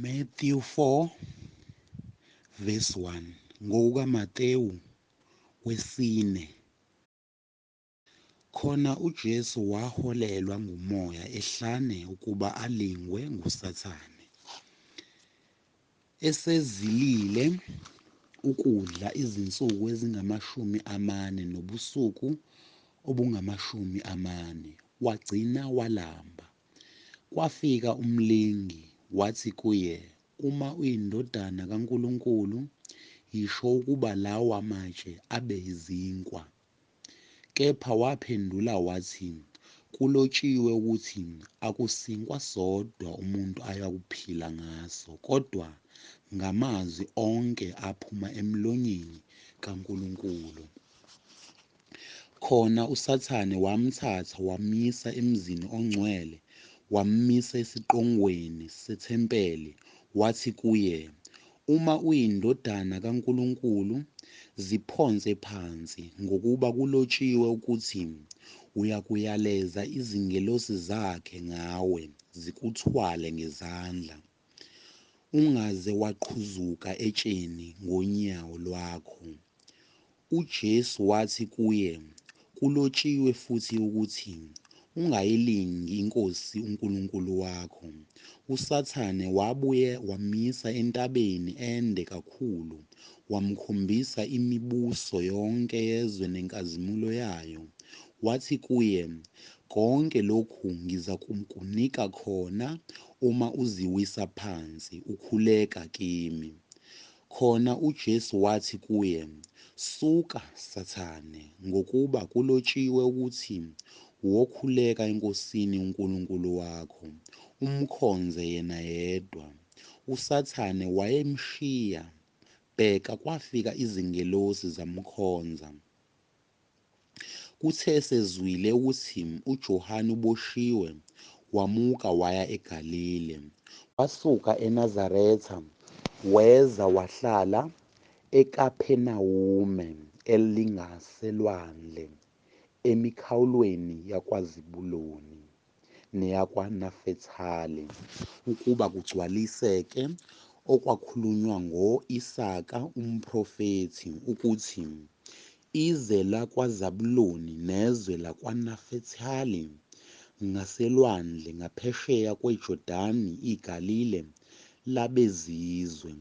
Matthew 4 verse 1 ngokukaMatewu wesine khona uJesu waholelwa ngumoya ehlane ukuba alingwe nguSathane esezilile ukudla izinsuku ezingamashumi amane nobusuku obungamashumi amane wagcina walamba Kwafika umlingi, wathi kuye, Uma uyiNdodana kaNkulunkulu, yisho ukuba lawa matshe abe izinkwa. Kepha waphendula wathi, Kulotshiwe ukuthi, Akusinkwa sodwa umuntu ayakuphila ngaso, kodwa ngamazwi onke aphuma emlonyeni kaNkulunkulu. Khona uSathane wamthatha wamyisa emzini ongcwele, wammisa esiqongweni sethempeli, wathi kuye, Uma uyiNdodana kaNkulunkulu, ziphonse phansi, ngokuba kulotshiwe ukuthi, Uyakuyaleza izingelosi zakhe ngawe, zikuthwale ngezandla. Ungaze waqhuzuka etsheni ngonyawo lwakho. UJesu wathi kuye, Kulotshiwe futhi ukuthi, Ungayilingi iNkosi uNkulunkulu wakho. USathane wabuye wamyisa entabeni ende kakhulu, wamkhombisa imibuso yonke yezwe nenkazimulo yayo, wathi kuye, Konke lokhu ngizakukunika khona Uma uziwisa phansi, ukhuleka kimi. Khona uJesu wathi kuye, Suka, Sathane, ngokuba kulotshiwe ukuthi, Wokhuleka eNkosini uNkulunkulu wakho, umkhonze yena yedwa. USathane wayemshiya. Bheka, kwafika izingelosi zamkhonza. Kuthe esezwile ukuthi uJohane uboshiwe, wamuka waya eGalile. Wasuka eNazaretha weza wahlala eKaphenawume elingaselwandle, emikhawulweni yakwaZebuloni. neyakwaNafethali, ukuba kugcwaliseke okwakhulunywa ngo-Isaka umprofethi, ukuthi, Ize lakwaZabuloni nezwe lakwaNafethali, ngaselwandle ngaphesheya kweJordani iGalile, labezizwe,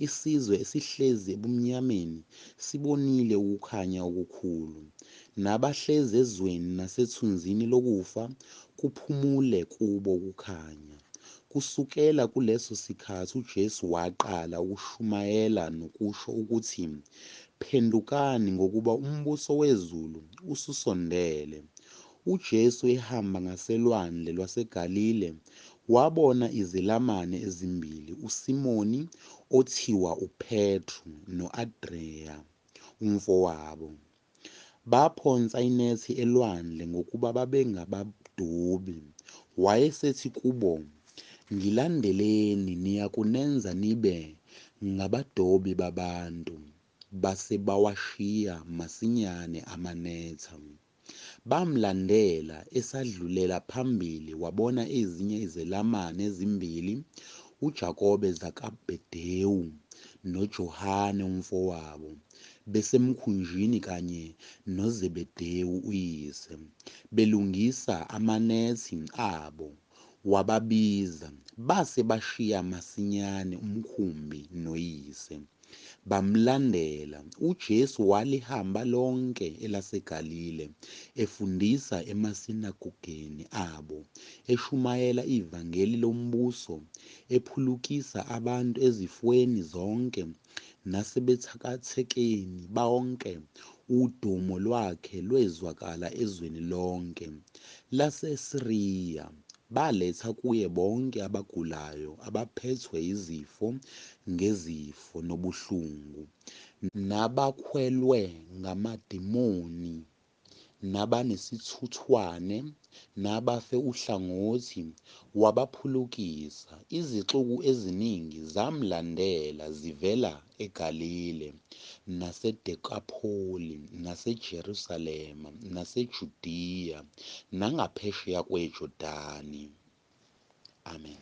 isizwe esihlezi ebumnyameni sibonile ukukhanya okukhulu, nabahlezi ezweni nasethunzini lokufa kuphumule kubo ukukhanya. Kusukela kuleso sikhathi uJesu waqala ukushumayela nokusho ukuthi, Phendukani ngokuba umbuso wezulu ususondele. UJesu ehamba ngaselwandle lwaseGalile, wabona izelamani ezimbili, uSimoni, othiwa uPetru, no-Adreya, umfowabo. Baphonsa inethi elwandle ngokuba babengabadobi. Wayesethi kubo, Ngilandeleni, niyakunenza nibe ngabadobi babantu. Base bawashiya masinyane amanetha. Bamlandela esadlulela phambili wabona ezinye izelamani ezimbili, uJakobe Zakabedewu noJohane umfowabo, besemkhunjini kanye noZebedewu uyise, belungisa amanethi abo. Wababiza, base bashiya masinyane umkhumbi noyise, bamlandela. UJesu walihamba lonke elaseGalile, efundisa emasinagogeni abo, eshumayela ivangeli lombuso, ephulukisa abantu ezifweni zonke, nasebethakathekeni bonke, udumo lwakhe lwezwakala ezweni lonke laseSiriya. Baletha kuye bonke abagulayo, abaphethwe yizifo ngezifo nobuhlungu, nabakhwelwe ngamademoni nabanesithuthwane, nabafe uhlangothi, wabaphulukisa. Izixuku eziningi zamlandela zivela eGalile, naseDekapholi, naseJerusalema, naseJudiya, nangaphesheya kweJordani. Amen.